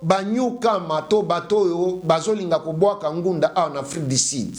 ba new comer to bato oyo bazolinga kobwaka ngunda awa na Afrique du Sud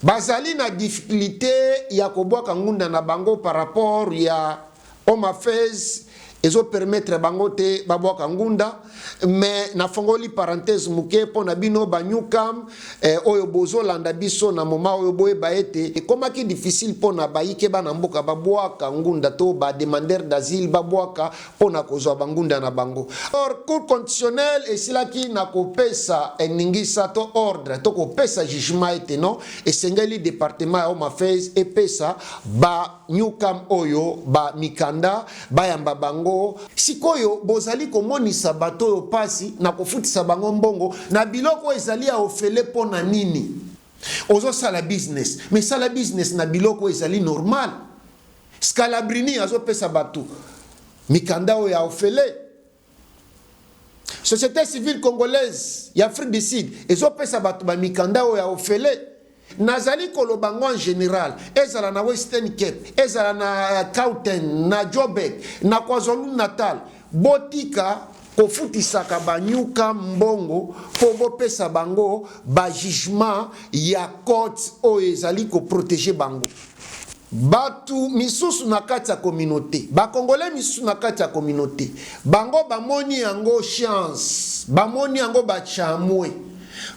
bazali na difficulite ya kobwaka ngunda na bango par rapport ya Home Affairs ezo permettre bango te babwaka ngunda mais nafongoli parenthèse moke mpo na bino ba new cam eh, oyo bozolanda biso na moma oyo boyeba ete ekomaki difficile mpo na bayike bana mboka babwaka ngunda to ba demandeur d'asile babwaka mpo na kozwa bangunda na bango. Or, Cour constitutionnelle esilaki na kopesa eningisa to ordre to kopesa jugement ete non, esengeli departement ya Home Affairs epesa ba newcam oyo ba mikanda bayamba bango. Sikoyo bozali komonisa bato oyo mpasi na kofutisa bango mbongo na biloko ezali ya ofele mpo na nini? Ozo sala business mais sala business na biloko oyo ezali normal. Scalabrini azo pesa batu mikanda oyo ya ofele. Societe civile congolaise ya Afrique du Sud ezo pesa batu ba mikanda oyo ya ofele. Nazali koloba ngo en general, ezala na Western Cape, ezala na Gauteng, na Joburg, na KwaZulu-Natal, Botika kofutisaka ba new come mbongo po bopesa bango ba jugement ya courts oyo ezali ko proteger bango. Batu misusu na kati ya communaute, ba congolais misusu na kati ya communaute, bango bamoni yango chance, bamoni yango ba chamue,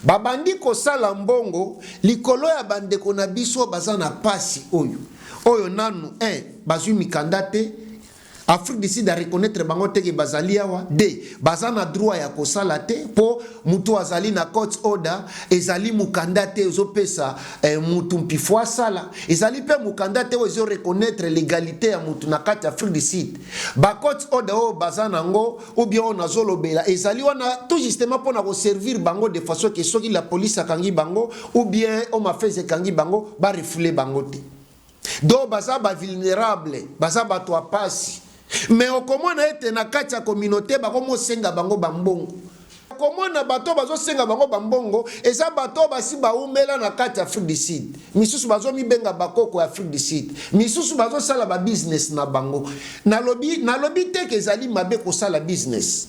babandi kosala mbongo likolo ya ba ndeko na biso baza na pasi oyo, oyo nanu un bazui mikanda te, Afrique du Sud a reconnaitre bango te que bazali awa, de baza na droit ya kosala te po mutu azali na court order ezali mukanda te ezo pesa eh, mutu mpifo asala, ezali pe mukanda te oyo ezo reconnaitre legalite ya mutu na kati Afrique du Sud. Ba court order oyo baza nango ou bien oyo nazolobela ezali wana tout justement pona ko servir bango de façon que soki la police akangi bango ou bien Home Affairs ekangi bango ba refouler bango te. donc baza bavulnerable baza bato ya mpasi me okomona ete na kati ya communauté bakomosenga bango bambongo okomona bato bazosenga bango bambongo eza bato basi baumela na kati ya afrique du sud misusu bazomibenga bakoko ya afrique du sud misusu bazosala babusiness na bango nalobi nalobi teke ezali mabe kosala business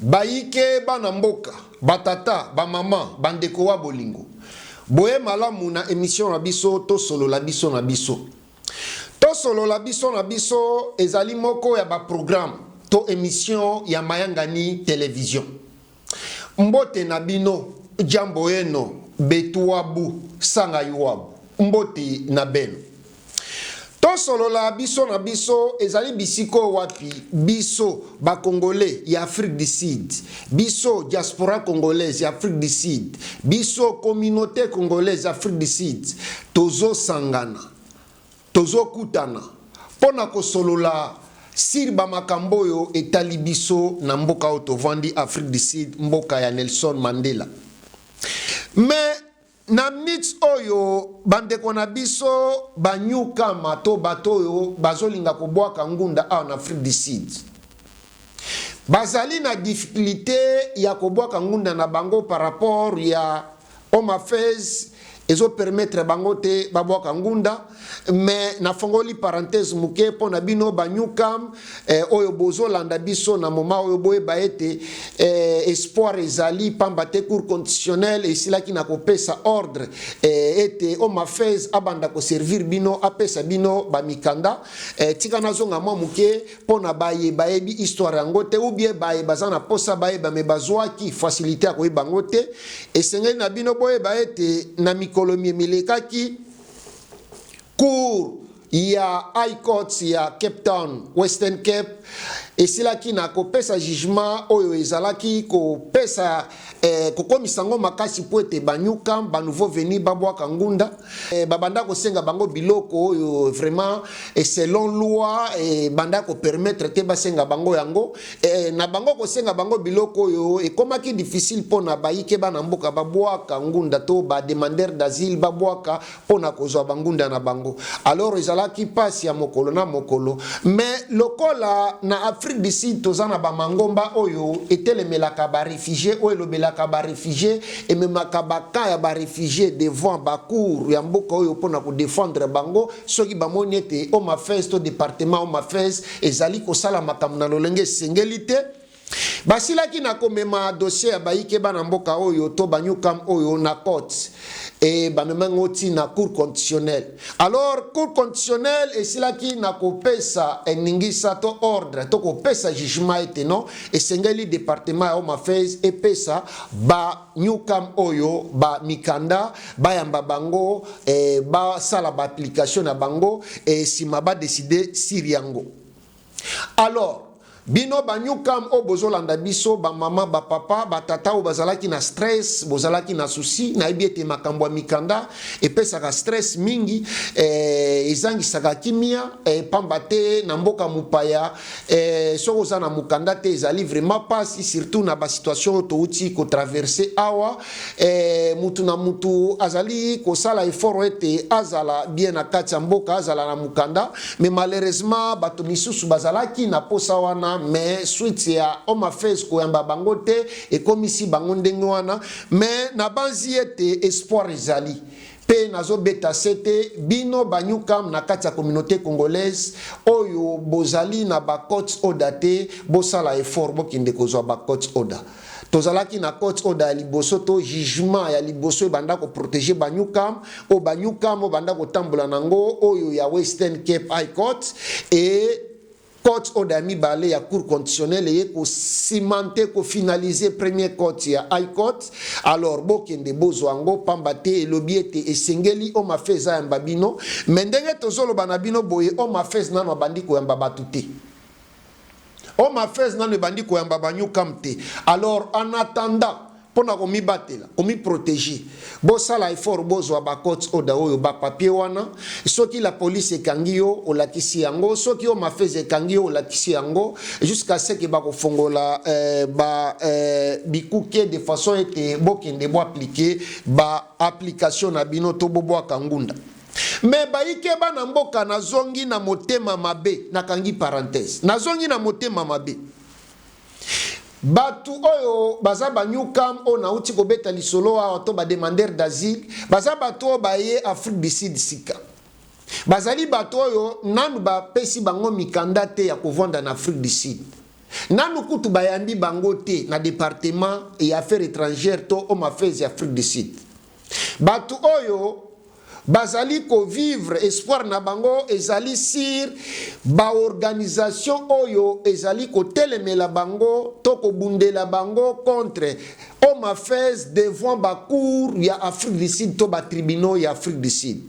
Bayike, bana mboka, ba tata, ba mama, ba ndeko wa bolingo. Boye malamu na emission na biso tosolola biso na biso. Tosolola biso na biso ezali moko ya ba programme to emission ya Mayangani Television. Mbote na bino, Jambo yeno, Betuabu, Sanga Yuabu. Mbote na beno. Tosolola biso na biso ezali bisika oyo wapi biso ba congolais ya Afrique du Sud, biso diaspora congolaise ya Afrique du Sud, biso communaute congolaise ya Afrique du Sud tozosangana, tozokutana mpo na kosolola sur ba makambo oyo etali biso na mboka oyo tovandi Afrique du Sud, mboka ya Nelson Mandela. Mais Na minutes oyo, bandeko na biso ba newcomer to bato oyo bazolinga kobwaka ngunda awa na Afrique du Sud, bazali na difficulite ya kobwaka ngunda na bango par rapport ya Home Affairs ezo permettre bango te babwaka ngunda. mais nafongoli parenthèse moke mpo na bino ba newcam eh, oyo bozolanda biso na moma oyo boyeba ete eh, espoir ezali mpamba te cour constitutionnel esilaki na kopesa ordre eh, ete omafes abanda koservir bino apesa bino bamikanda eh, tika nazonga mwa moke mpo na baye bayebi histoire yango te ubie baye baza na mposa bayeba me bazwaki facilité ya koyeba yango te esengeli na bino boyeba ete na mikolo mie milekaki Cour ya High Court ya Cape Town, Western Cape, esilaki na kopesa jugement oyo ezalaki kopesa eh, kokomisa yango makasi mpo ete banyuka ba nouveau venu babwaka ngunda eh, babanda kosenga bango biloko oyo vraiment eh, selon loi ebanda eh, kopermettre te basenga bango yango Ee, na bango kosenga bango biloko oyo, ekomaki dificile mpo na bayike bana mboka babwaka ngunda to ba demandeurs d'asile babwaka mpo na kozwa ba ngunda na bango. Alors ezalaki mpasi ya mokolo na mokolo. Mais lokola na Afrique du Sud toza na ba mangomba oyo etelemelaka ba refugies, oyo elobelaka ba refugies, ememaka ba cas ya ba refugies devant ba cours ya mboka oyo mpo na ko defendre bango soki bamoni ete Home Affairs to departement Home Affairs ezali kosala makambo na lolenge esengeli te basilaki na komema dosie ya bayike bana mboka oyo to banyukam oyo na cote e bamemaki ngo ti na cour constitutionnel alors cour constitutionnel esilaki na kopesa eningisa to ordre to kopesa jugement ete non esengeli departement ya home affairs epesa ba Newcam oyo ba mikanda bayamba bango eh, basala ba application na bango eh, sima ba décider sur yango alors bino ba newcam oyo bozolanda biso bamama bapapa batata oyo bazalaki na stress bozalaki na susi nayebi ete makambo ya mikanda epesaka stress mingi eh, ezangisaka kimia eh, pamba te na mboka mopaya Eeh soki oza na mukanda te ezali vraiment pasi surtout na ba situation oyo towuti ko traverser awa eeh mutu na mutu azali kosala effort ete azala bien na kati ya mboka azala na mukanda mais malheureusement batu misusu bazalaki na posa wana mais suite ya home affairs koyamba bango te ekomisi bango ndenge wana mais nabanzi ete espoir ezali Pe nazo beta sete bino ba new come na kati ya communaute congolaise oyo bozali na ba courts order te bosala effort bokende kozua ba courts order. Tozalaki na courts order ya liboso to jugement ya liboso ebanda ko proteger ba new come oyo ba new come oyo banda kotambola na yango oyo ya western cape high court et Court oyo ya mibale ya Cour constitutionnelle eye ko cimenter, ko finaliser premier court ya High Court. Alors bokende bozwa yango pamba te elobi ete esengeli Home Affairs ayamba bino. Mais ndenge tozoloba na bino boye Home Affairs nanu abandi koyamba batu te. Home Affairs nanu ebandi koyamba ba Newcome te. Alors en attendant Pona ko mibatela, ko mi proteger, bo sala effort bo zwa ba court order oyo, ba papiers wana. Soki la police ekangi yo, olakisi yango. Soki yo mafeza ekangi yo, olakisi yango. Jusqu'à ce que ba ko fongola ba bikuke de façon ete bo kende bo appliquer ba applications na bino to bo bwaka ngunda. Mais baike bana mboka, na zongi na motema mabe, na kangi parenthèse. Na zongi na motema mabe. Batu oyo baza ba new come oyo nawuti kobeta lisolo awa to ba demandeurs d'asile baza batu oyo baye Afrique du Sud sika. Bazali batu oyo nanu bapesi bango mikanda te ya kovanda na Afrique du Sud. Nanu kutu bayambi bango te na departement ya Affaires etrangères to Home Affairs ya Afrique du Sud. Batu oyo bazali ko vivre espoir na bango ezali sur ba organisation oyo ezali kotelemela bango to kobundela bango contre home affairs devant ba cour ya Afrique du Sud to ba tribunaux ya Afrique du Sud.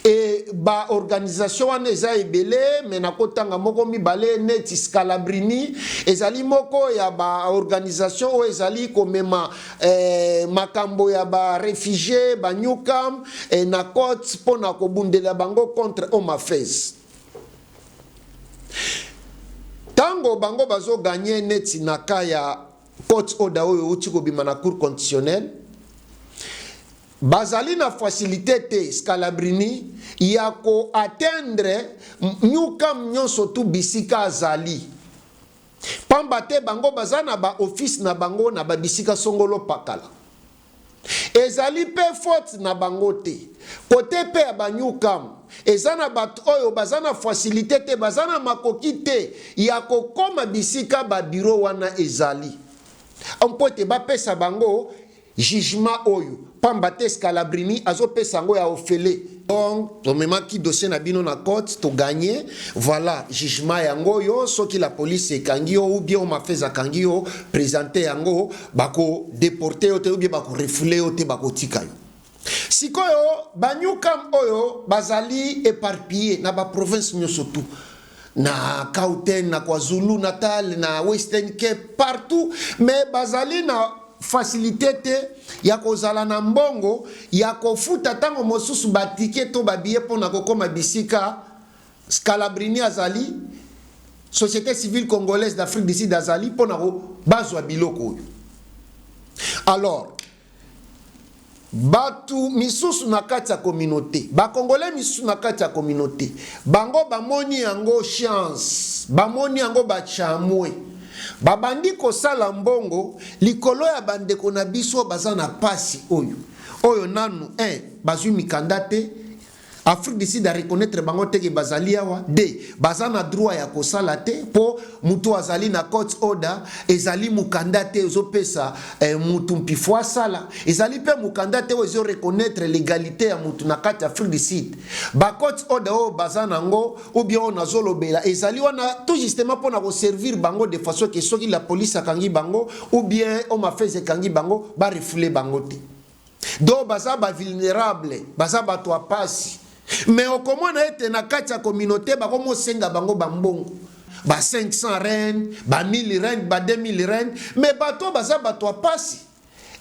Et ba organisation wana eza ebele mais nakotanga moko mibale neti Scalabrini ezali moko ya ba organisation oyo ezali komema eh, makambo ya ba refugie ba Newcam eh, na cote mpo na kobundela bango contre Home Affairs ntango bango bazoganye neti na ka ya Court order oyo euti kobima na Cour constitutionnelle bazali na facilite te Scalabrini ya ko atteindre New Cam nyonso tu bisika azali pamba te bango baza na ba office na bango na ba bisika songolo pakala. Ezali mpe faute na bango te. Cote mpe ya ba new cam, eza na bato oyo baza na facilite te, baza na makoki te ya kokoma bisika ba bureaux wana ezali mpo ete bapesa bango jugement oyo, pamba te Scalabrini azopesa yango ya ofele. Donc tomemaki dossier na bino na cote to gagne voilà jugement yango yo soki la police ekangi yo ou bien omafeza akangi yo presente yango bako deporte yo te ou bien bako refoule yo te bakotika yo sikoyo banyukam oyo bazali eparpille na baprovince nyonso tout na Gauteng, na KwaZulu Natal, na Western Cape, partout mais bazali na facilité te ya kozala na mbongo ya kofuta ntango mosusu batike to babiye mpo na kokoma bisika Scalabrini azali société civile congolaise d'Afrique du Sud azali mpo na bazwa biloko oyo alors Batu misusu na kati ya communaute, ba congolais misusu na kati ya communaute bango bamoni yango chance, bamoni yango ba camue, babandi kosala mbongo likolo ya ba ndeko na biso baza na pasi oyo, oyo nanu un bazui mikanda te, Afrique du Sud a reconnaitre bango te que bazali awa, de, baza na droit ya kosala te po mutu azali na court order ezali mukanda te ezo pesa eh, mutu mpifo asala, ezali pe mukanda te oyo ezo reconnaitre legalite ya mutu na kati ya Afrique du Sud. Ba court order oyo baza na ngo ou bien oyo nazo lobela ezali wana tout justement pona ko servir bango de façon que soki la police akangi bango ou bien Home Affairs ekangi bango ba refouler bango te. donc baza ba vulnerable baza bato ya pasi mais okomona ete na kati ya communaute bakomosenga bango bambongo ba 500 rand ba 1000 rand ba 2000 rand mais bato baza bato ya pasi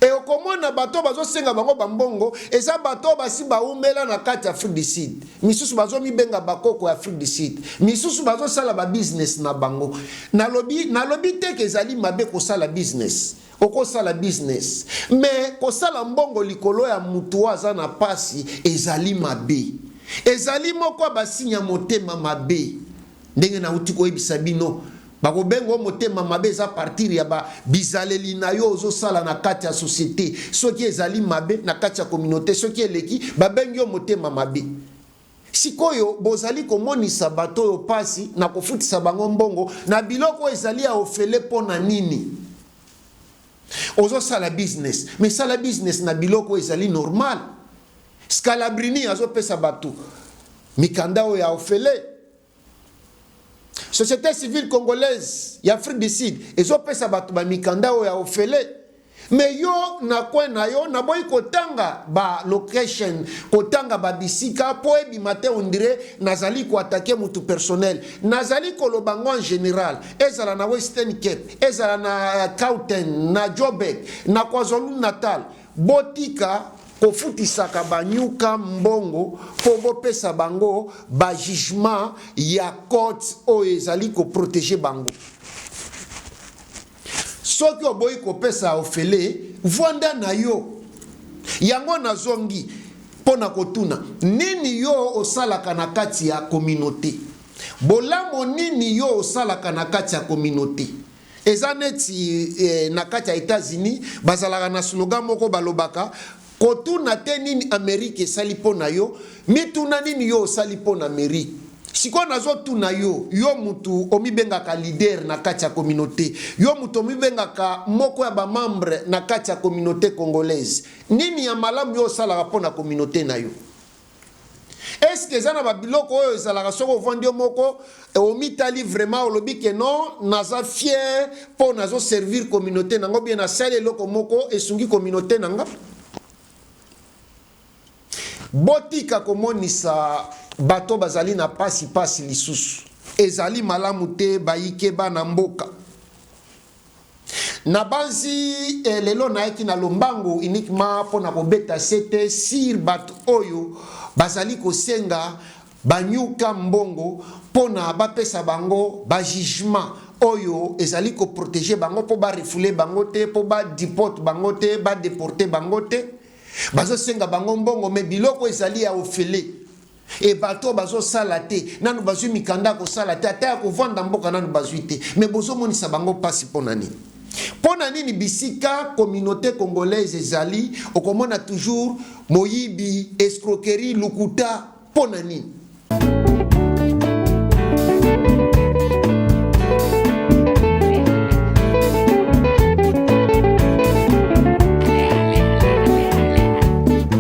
e okomona bato bazosenga bango bambongo eza bato basi baumela na kati ya afrique du sud misusu bazomibenga bakoko ya afrique du sud misusu bazosala babusiness na bango nalobi nalobi teke ezali mabe kosala business Okosala business mais kosala mbongo likolo ya mutu oyo aza na pasi ezali mabe. Ezali moko ya ba signe ya motema mabe. Ndenge nawuti koyebisa bino, bakobenga yo motema mabe eza partir ya ba bizaleli na yo ozo sala na kati ya societe. Soki ezali mabe na kati ya communaute, soki eleki babengi yo motema mabe. Sikoyo bozali komonisa bato oyo mpasi na kofutisa bango mbongo na biloko oyo ezali ya ofele mpo na nini? Ozosala business, mais sala business na biloko oyo ezali normal. Scalabrini azopesa bato mikanda oyo ya ofele. Societe civile congolaise ya Afrique du Sud ezopesa bato ba mikanda oyo ya ofele me yo na coin na yo naboyi kotanga ba location kotanga ba bisika mpo ebima te ondire nazali koatake motu personnel nazali koloba ngo en general ezala na western cape ezala na cauten na jobek na kwazulu natal Botika kofutisaka ba nyoka mbongo po bopesa bango ba jugement ya courts oyo ezali ko proteger bango. Soki oboyi kopesa ofele, vuanda na yo. Yango nazongi po na kotuna, nini yo osalaka na kati ya communaute? Bolamo nini yo osalaka na kati ya communaute? Eza neti eh, na kati ya Etats-Unis bazalaka na slogan moko balobaka kotuna te nini Amerike esali mpo na yo, mituna nini yo osali mpo na Amerike. Sikoyo nazotuna yo, yo mutu omibengaka leader na kati ya communauté, yo mutu omibengaka moko ya bamembre na kati ya communauté congolaise, nini ya malamu yo osalaka mpo na communauté na yo? Est ce que eza na ba biloko oyo ezalaka soki ovandi yo moko eh, omitali vraiment olobi que non naza fier po nazo servir communauté nango bien nasali eloko moko esungi communauté nanga botika komonisa bato bazali na pasi pasi lisusu ezali malamu te bayike bana mboka Nabanzi eh, lelo nayaki na lombango uniquement mpo na kobeta sete sur bato oyo bazali kosenga banyuka mbongo mpo na bapesa bango bajugement oyo ezali koprotege bango mpo barefule bango te mpo badeporte bango te badeporte bango te bazosenga bango mbongo me biloko ezali ya ofele Et batu oyo bazo sala te nanu bazui mikanda ya kosala te ata ya kovanda mboka nanu bazui te mais bozo monisa bango pasi pona nini? Pona nini bisika communaute congolaise ezali okomona toujours moyibi, escroquerie, lokuta pona nini?